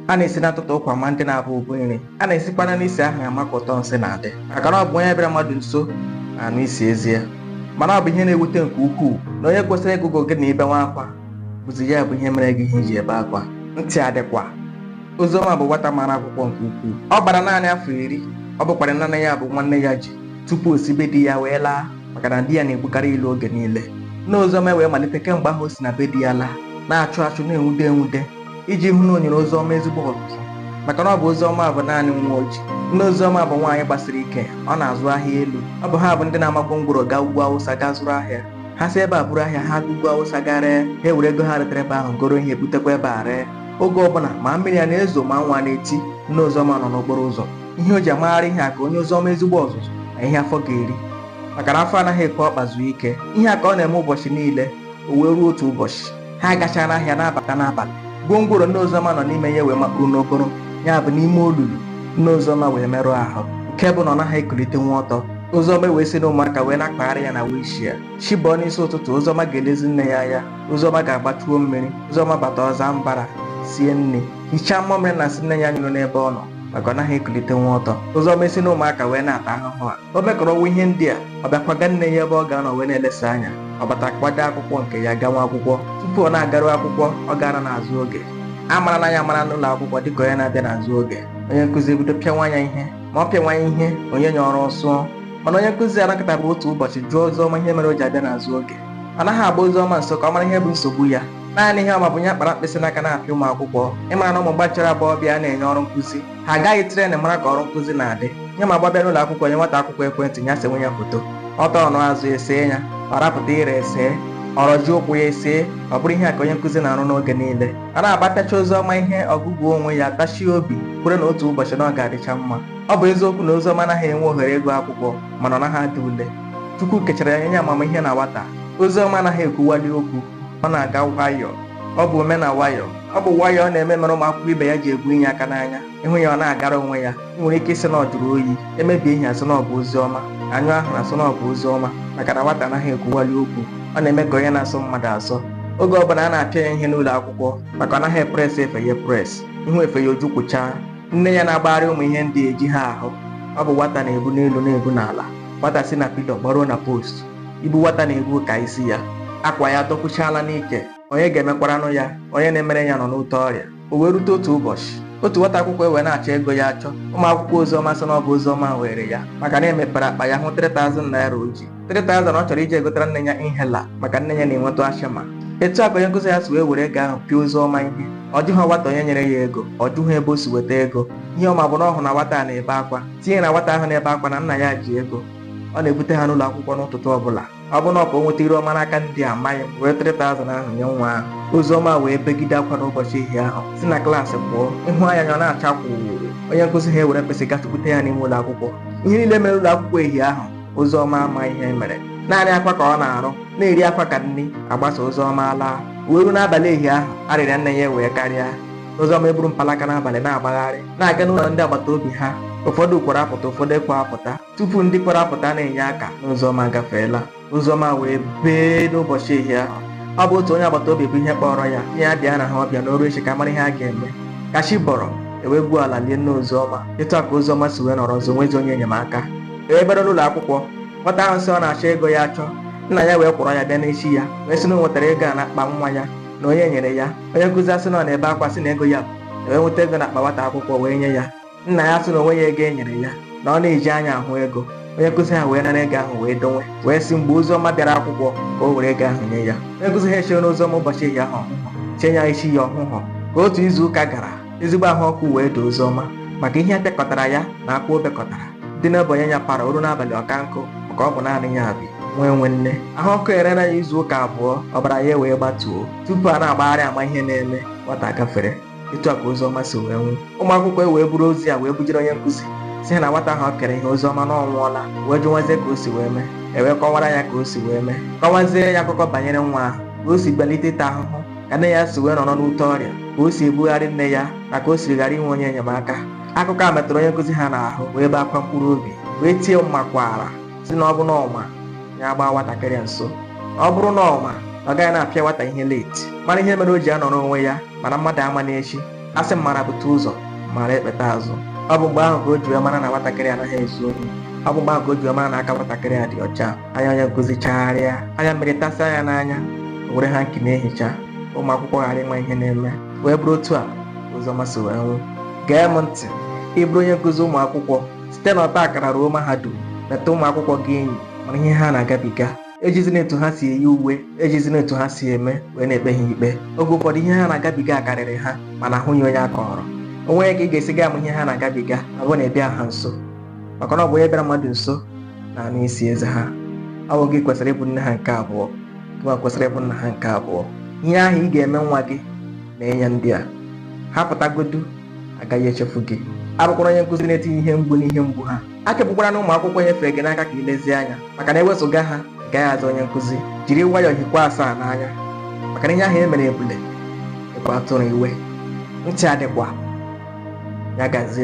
a na-esi n'atụtụ ụkwa ama ndị na-abụ ụbụ nri a na-esikwana n'isi ahụ ama ka ụtọ nsị na-adị maka na ọ bụ onye bịara mmadụ nso na-anụ isi eze ya mana ọ bụ ihe na-ewute nke ukwuu na onye kwesịrị ịgụgụ gị na i benwa akwa bụzi ya bụ ihe mere gị ihe i ji ebe akwa ntị adịkwa Oziọma bụ nwata mara akwụkwọ nke ukwuu ọ gbara naanị afọ iri ọ bụkwara naanị ya bụ nwa nne ya ji tupu o si be di ya wee laa maka na di ya na-egbukarị ya ilu oge niile nne Oziọma wee malite kemgbe ahụ o si na be di ya laa na-achụ achụ na-enwude enwude iji hụ na o nyere Oziọma ezigbo ọzụzụ maka na ọ bụ Oziọma bụ naanị nwa o ji nne Oziọma bụ nwaanyị gbasiri ike ọ na-azụ ahịa elu ọ bụ ha bụ ndị na-ama gwongworo gaa ugwu awụsa gaa zụrụ ahịa ha si ebe a buru ahịa ha gaa ugwu awụsa gaa ree ha ewere ego ha retara ebe ahụ goro ihe butekwa ebe a ree oge ọbụla ma mmiri a na-ezo ma anwụ a na-eti nne Oziọma nọ n'okporo ụzọ ihe o ji amagharị ihe a ka o nye Oziọma ezigbo ọzụzụ na ihe afọ ga-eri maka na afọ anaghị ekwe ọkpa zuo ike ihe a ka ọ na-eme ụbọchị niile o wee ruo otu ụbọchị ha agachaana ahịa na-abata n'abalị gwongworo nne Oziọma nọ n'ime ya wee makpuru n'okporo ya bụ n'ime olulu nne Oziọma wee merụọ ahụ nke bụ na ọ naghị ekulitenwu ọtọ Oziọma wee si na ụmụaka wee na-akpagharị ya na wheelchair chi bọọ n'isi ụtụtụ Oziọma ga-elezi nne ya anya Oziọma ga-agba chuo mmiri Oziọma bata ọ zaa mbara sie nri hichaa mmamịrị na nsị nne ya nyụrụ n'ebe ọ nọ maka ọ naghị ekulitenwu ọtọ Oziọma esi na ụmụaka wee na-ata ahụhụ a o mekọrọnwa ihe ndị a ọ bịa kwaga nne ya ebe ọ ga-anọ wee na-elesa anya ọ bata kwado akwụkwọ nke ya gawa akwụkwọ tupu ọ na-agaru akwụkwọ ọ gaana n'azụ oge a marana ya amara n'ụlọ akwụkwọ dịka onye na-abịa n'azụ oge onye nkụzi ebido pịawa ya ihe ma ọ pịawa ya ihe o nye ya ọrụ ọ sụọ mana onye nkụzi anọkatabu otu ụbọchị jụọ Oziọma ihe mere o ji abịa n'azụ oge ọ naghị agba Oziọma nso ka ọ mara ihe bụ nsogbu ya naanị ihe ọ ma bụ ya kpara mkpịsị n'aka na-apịa ụmụ akwụkwọ ị mara na ụmụ gbachara agbọghọbịa a na-enye ọrụ nkụzi ha agaghị train mara ka ọrụ nkụzi na-adị ya ma gbabịa n'ụlọ akwụkwọ nye nwata akwụkwọ ekwentị ya senwe ya foto ọ tọọ ọnụ azụ e see ya ọ rapụta ire e see ọ rọjie ụkwụ ya e see ọ bụrụ ihe a ka onye nkụzi na-arụ n'oge niile a na-apịacha Oziọma ihe ọ gụgụọ onwe ya tachie obi kwere na otu ụbọchị na ọ ga-adịcha mma ọ bụ eziokwu na Oziọma anaghị enwe ohere ịgụ akwụkwọ mana ọ naghị ada ule chukwu kechara ya nye ya amamihe na nwata Oziọma anaghị ekwuwali okwu ọ na-aga nwayọọ ọ bụ ome na nwayọọ ọ bụ nwayọọ ọ na-eme mere ụmụ akwụkwọ ibe ya ji egbunye ya aka n'anya ị hụ ya ọ na-agara onwe ya ị nwere ike ịsị na ọ jụrụ oyi e mebie ihe a sị na ọ bụ Oziọma a nyụọ ahụrụ a sị na ọ bụ Oziọma maka na nwata anaghị ekwuwali okwu ọ na-eme ka onye na-asọ mmadụ asọ oge ọbụla a na-apịa ya ihe n'ụlọ akwụkwọ maka ọ naghị epress efe ya press ị hụ efe ya o jukwụchaa nne ya na-agbagharị ụmụ ihe ndị e ji ha ahụ ọ bụ nwata na-ebu n'elu na-ebu n'ala nwata si na pillar gbaruo na post ibu nwata na-ebu ka isi ya akwa ya dọkwuchaala n'ike onye ga-emekwaranụ ya onye na-emere ya nọ n'ute ọrịa o wee rute otu ụbọchị otu nwata akwụkwọ ewee na-achọ ego ya achọ ụmụ akwụkwọ oziọma sị na ọ bụ oziọma were ya maka na e mepere akpa ya hụ 3000 naira o ji 3000 ọ chọrọ iji egotara nne ya inhaler maka nne ya na-enwetụ asthma etu a ka onye nkụzi ya si wee were ego ahụ pịa oziọma ihe ọ jụghị nwata onye nyere ya ego ọ jụghị ebe o si weta ego ihe ọ ma bụ na ọ hụ na nwata a na-ebe akwa tinye na nwata ahụ na-ebe akwa na nna ya ji ego ọ na-ebute ha n'ụlọ akwụkwọ n'ụtụtụ ọbụla ọ bụ na ọ ka o nweta iru ọma n'aka ndị a amaghị m wee 3000 ahụ nye nwa ahụ oziọma wee begide akwa n'ụbọchị ehihie ahụ si na klaasị pụọ ịhụ anya ya ọ na-acha kwụrụ onye nkụzi ha ewere mkpịsị gachikwute ya n'ime ụlọ akwụkwọ ihe niile mere ụlọ akwụkwọ ehihie ahụ oziọma ama ihe e mere naanị akwa ka ọ na-arụ na-eri akwa ka nri agbasa oziọma laa wee ruo n'abalị ehihie ahụ arịrịa nne ya wee karịa oziọma eburu mpalaka n'abalị na-agbagharị na-aga n'ụlọ ndị agbata obi ha ụfọdụ kwara apụta ụfọdụ ekwe apụta tupu ndị kwara apụta na-enye aka nne oziọma agafeela oziọma wee bee n'ụbọchị ehihie ahụ ọ bụ otu onye agbata obi bụ ihe kpọrọ ya ihe ya bịa na ha ọbịa na o ruo echi ka a mara ihe a ga-eme ka chi bọrọ ewee gwuo ala lie nne oziọma etu a ka oziọma si wee nọrọ ọzọ enwezi onye enyemaka ewee bịara n'ụlọ akwụkwọ nwata ahụ sị ọ na-achọ ego ya achọ nna ya wee kwọrọ ya bịa n'echi ya wee sị na o nwetara ego a n'akpa nwa ya na onye nyere ya onye nkụzi asị na ọ na-ebe akwa sị na ego ya bụ ewee nweta ego n'akpa nwata akwụkwọ wee nye ya nna ya sị na o nweghị ego e nyere ya na ọ na-eji anya ahụ ego onye nkụzi ha wee nara ego ahụ wee donwe wee sị mgbe Oziọma bịara akwụkwọ ka o were ego ahụ nye ya onye nkụzi ha echere Oziọma ụbọchị ehihie ahụ ọ hụhụ chee ya echi ya ọ hụhụ ka otu izu ụka gara ezigbo ahụ ọkụ wee doo Oziọma maka ihe a pịakọtara ya na akwa o bekọtara dị n'ebe onye ya para o ruo n'abalị ọka nkụ maka ọ bụ naanị ya bi enwe nwanne ahụ ọkụ erela ya izu ụka abụọ ọbara ya wee gbatuo tupu a na-agbagharị ama ihe na-eme nwata gafere etu a ka Oziọma si wee nwụ ụmụ akwụkwọ wee buru ozi a wee bujere onye nkụzi sị na nwata ahụ o kere ihe Oziọma na ọ nwụọla wee jụwazie ka o si wee mee ewee kọwara ya ka o si wee mee kọwazie ya akụkọ banyere nwa ahụ ka o si gbalite ịta ahụhụ ka nne ya si wee nọrọ n'ute ọrịa ka o si ebugharị nne ya na ka o siri ghara inwe onye enyemaka akụkọ a metụrụ onye nkụzi ha n'ahụ wee bee akwa mkpụrụ obi wee tie mmakwaara sị na ọ bụ na ọ ma ya agbaa nwatakịrị nso ọ bụrụ na ọ ma ọ gaghị na-apịa nwata ihe late mara ihe mere o ji anọrọ onwe ya mana mmadụ ama n'echi a sị mara bute ụzọ mara ekpeta azụ ọ bụ mgbe ahụ ka o ji wee mara na nwatakịrị anaghị ezu ohi ọ bụ mgbe ahụ ka o ji wee mara na aka nwatakịrị a dị ọcha anya onye nkụzi chagharịa anya mmiri tasịa ya n'anya o were hanky na-ehicha ụmụ akwụkwọ ghara ịma ihe na-eme wee bụrụ otu a Oziọma si wee nwụ gee m ntị ị bụrụ onye nkụzi ụmụ akwụkwọ site n'ọta akara ruo mahadum meta ụmụ akwụkwọ gị enyi mara ihe ha na-agabiga ejizina etu ha si eyi uwe ejizina etu ha si eme wee na-ekpe ha ikpe oge ụfọdụ ihe ha na-agabiga karịrị ha mana ahụghị onye a kọrọ o nweghị ka ị ga-esi ga ama ihe ha na-agabiga abụ na ị bịa ha nso maka na ọ bụ onye bịara mmadụ nso na-anụ isi eze ha ọ wụ gị kwesịrị ịbụ nne ha nke abụọ gịwa kwesịrị ịbụ nna ha nke abụọ ihe ahụ ị ga-eme nwa gị mee ya ndị a ha pụtagodu agaghị echefu gị abụkwara onye nkụzi na-etinye ihe mgbu n'ihe mgbu ha akepụkwara na ụmụ akwụkwọ e nyefere gị n'aka ka ị lezie anya maka na ewezụga ha ị gaghị aza onye nkụzi jiri nwayọọ hikwa asaa n'anya maka na ihe ahụ e mere ebule ịbụ atụrụ iwe ntị adịkwa ya gazie